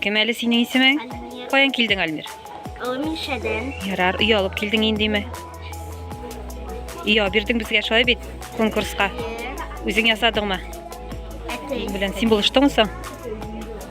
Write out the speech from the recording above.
Кем әле синең исемең? Альмир. Каян килдең, Альмир? Алмишәдән. Ярар, өй алып килдең индеме? Өй алып бирдең безгә шулай бит конкурска. Үзең ясадыңмы? Әтәй. Белән син булыштыңмы соң?